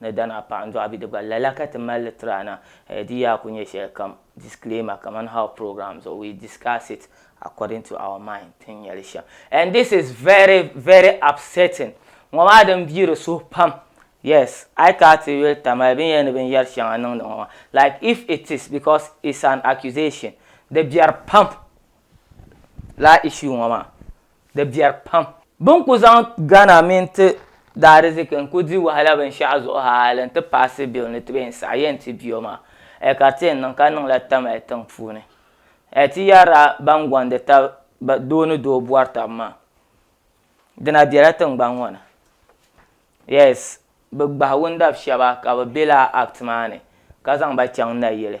ni Danaa paɣa n-dɔɣi bɛ di gba lala ka ti mali li tiri a na eh di yaa ku nyɛ shɛli kam disclaimer kaman how program zuɣu we discuss it according to our mind ti ni nya li shɛm and this is very very upsetting ŋɔ maa din bi di suhu pam yes a yi kana ti yuli Tamale binyɛra ni binyɛri shɛŋa niŋdi ŋɔ maa like if it is because it's an accusation di biɛri pam lala issue ŋɔ maa di biɛri pam. Bini kuli zaŋ Ghana mini ti daadiziki n kuli di wahala binshɛɣu zuɣu hali n ti paasi bill ni ti bɛn saɣi yɛn ti biɔ maa ɛɛ ka ti yɛn niŋ ka niŋla tam ɛɛ tiŋ puuni ɛɛ ti yarila ban gondi tabi doo ni doo bɔri tabi maa dina biɛla tiŋgbani ŋɔ ni yes bi gbahi wundabi shɛba ka bi bɛ lala act maa ni ka zaŋ ba chaŋ nayili.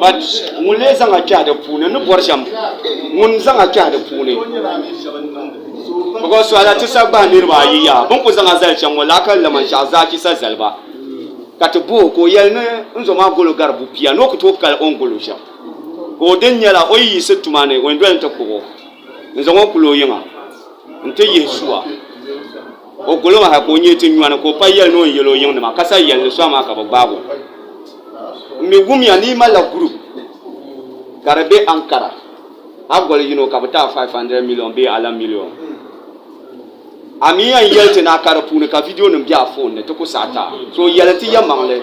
But ŋun lee zaŋ a kpɛhi di puuni ni bɔri shɛm ŋun zaŋ a kpɛhi di puuni because suhila ti sa gbahi niriba ayi yaa bin ku zaŋ a zali shɛm ŋɔ laa ka laman shɛɣu zaa chisa zali ba ka ti boo ka o yɛli ni n zo maa golo gari bu pia ni o ku tooi kali o ni golo shɛm ka o din nyɛla o yi yiɣisi tuma ni o ni doli n ti kpuɣi o n zaŋ o kuli o yiŋa n ti yihi sua. O gol o maa ha ka o nyee ti nyɔni ka o pa yɛli ni o ni yɛl o yiŋ nima ka sa yɛli ni sɔŋ maa ka bɛ gbaag o. N mi wumya ni yi malila group ka di be Ankara a gol yino ka bɛ ti a 500 million bee alan million. A mi yɛn yɛli ti ni a ka di puuni ka video nim be a phone ni ti ku saɣi ti a. So yɛli ti yɛmaŋli.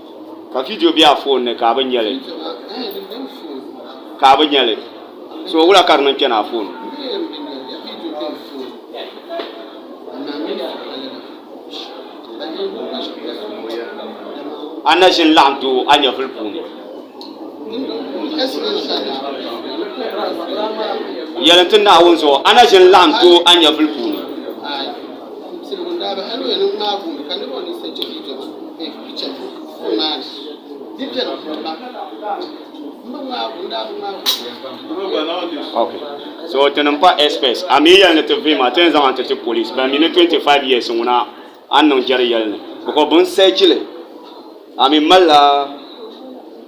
ka vidio bɛ a foon ni ka a bi nyɛli ka a bi nyɛli so wula ka di niŋ kpɛni a foon a na ʒini laɣam doo a nyɛvuli puuni yɛlim ti naawuni zuɣu a na ʒini laɣam doo a nyɛvuli puuni Okay. So ti niŋ pa express a mi yɛli ni ti vii maa ti yɛn zaŋ an ti ti police ban mi ni 25 years ŋuna an niŋ jɛri yɛli ni because bin sɛchili a mi malila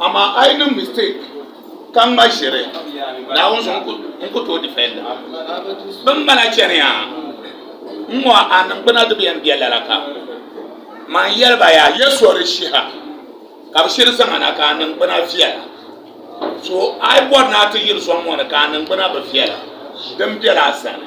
Amaa a yi niŋ mistake ka ŋma ʒiri Naawuni zuɣu n ku tooi defenda. Bin bala chaniya n ŋɔ a niŋgbuna di bi yɛn bɛ lala kam. Man yɛli ba yaa ya sɔri shiha ka bi shiri zaŋ a na ka a niŋgbuna viɛla. So a yi bɔri ni a ti yiri sɔŋ ŋɔ ni ka a niŋgbuna bi viɛla din bɛla a sani.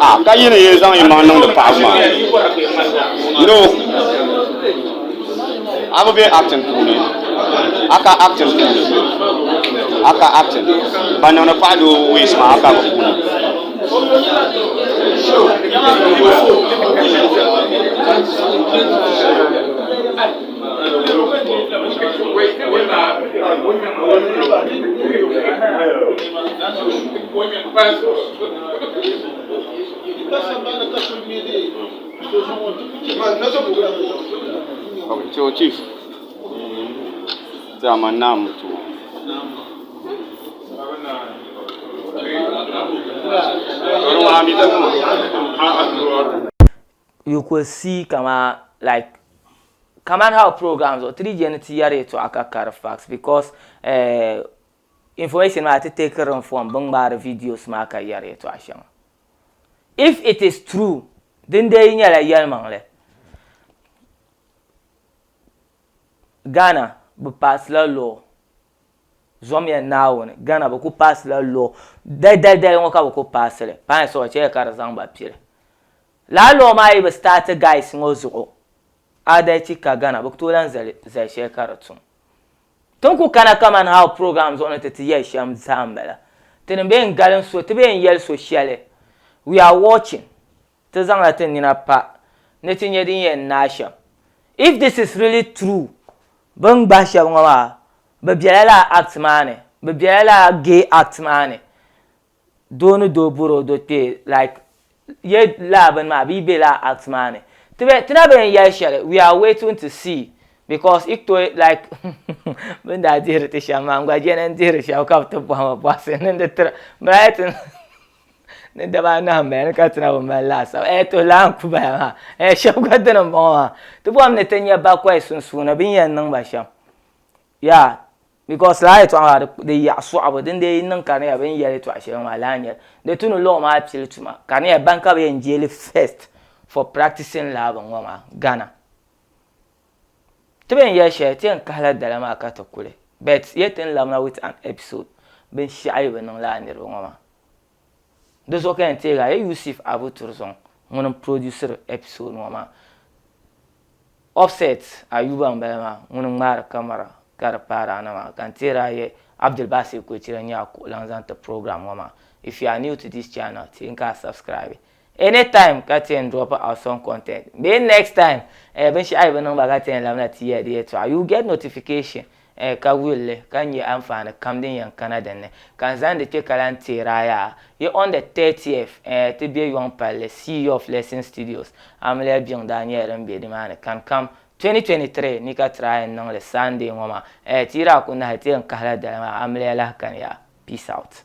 Ah, ka yi ni yi zaŋ yimaŋ niŋdi paɣaba maa. No, a bi be acting puuni, a ka acting puuni, a ka acting. Ban niŋdi paɣa doo ways maa a ka bi puuni. chief dama naa mu tuma You could see kaman like kaman how program zuɣu ti di je ni ti yɛri yɛtɔɣa ka kari facts because eh information maa ti take rim from bin ŋmaari videos maa ka yɛri yɛtɔɣa shɛŋa. If it is true din dee yi nyɛla yɛlimaŋli Ghana bi pass la law. Zɔmiya Naawuni, Ghana bɛ kuli paasi la law dali dali dali ŋɔ ka bɛ kuli paasi li pain soya chɛya ka di zaŋ ba piri lala law maa yi bi start guys ŋɔ zuɣu adalci ka Ghana bɛ tooi lan zali zali shɛli ka di tum tin kuli kana kaman how program zuɣu ni ti ti yɛli shɛm zaa m bala ti ni bee n galin so ti bee n yɛli so shɛli we are watching. Ti zaŋla ti nina pa ni ti nya din yɛn naai shɛm. If this is really true, bɛ ni gbahi shɛba ŋɔ maa, bɛ bela lala act maa ni, bɛ bela lala gay act maa ni, doo ni doo bɔri o do kpee like ye lala bini maa bɛ yi be lala act maa ni. Tibɛ ti na bɛ ni yɛli shɛli, we are waiting to see because yi tooi like bɛ ni daa dihiri ti shɛm maa n gba je ni n dihiri shɛba ka bɛ ti bɔhima bɔhisi n niŋdi tira. ni daba anahi n bala ni ka ti na bi mali laasabu ee to laa n ku bala maa ee shɛb gba dini n bɔŋɔ maa ti bɔhim ni ti nya bakɔi sunsuuni bini yɛn niŋ ba shɛm yaa bikɔs lala yɛltɔɣa maa di yaɣi sɔɣibu din dee yi niŋ ka di nyɛla bini yɛli yɛltɔɣa shɛli ŋɔ maa lala n nyɛli di ti ni lɔɔ maa pili tuma ka di nyɛla bani ka bi yɛn jeeli fɛst fɔ praktisin lala bini ŋɔ maa Ghana. Ti bɛn yɛli shɛli ti yɛn kahila dala maa ka ti kuli but yet n labina with an episode binshɛɣu yi bi niŋ lala niriba ŋɔ maa di zuɣu ka yɛn teegi a ye Yusuf Abu Turzɔŋ ŋuni n produsiri episode ŋɔ maa Offset Ayuba n bala maa ŋuni n ŋmaari camera ka di paari a na maa ka n teeri a ye Abdulbasir Koichira n nyɛ a kuɣulaŋ zaŋ ti program ŋɔ maa if you are new to this channel teei n ka a subscribe Any time ka ti yɛn drop awesome content bee next time eh binshɛɣu yi bi niŋ ba ka ti yɛn labina ti ya di yɛltɔɣa you get notification eh ka wuli li ka nyɛ anfaani kam din yɛn kana din ni ka n zaŋdi kpɛ ka lahi teer a yaa. Yi on the 30th eh ti be yɔŋ palli Sea of Blessing Studios amiliya biŋ daa nyɛla din be ni maa ni kani kam 2023 ni ka try n niŋ li Sunday ŋɔ maa eh ti yi daa ku nahi ti yɛn kahi la dali maa amiliya lahi kani yaa. Peace out.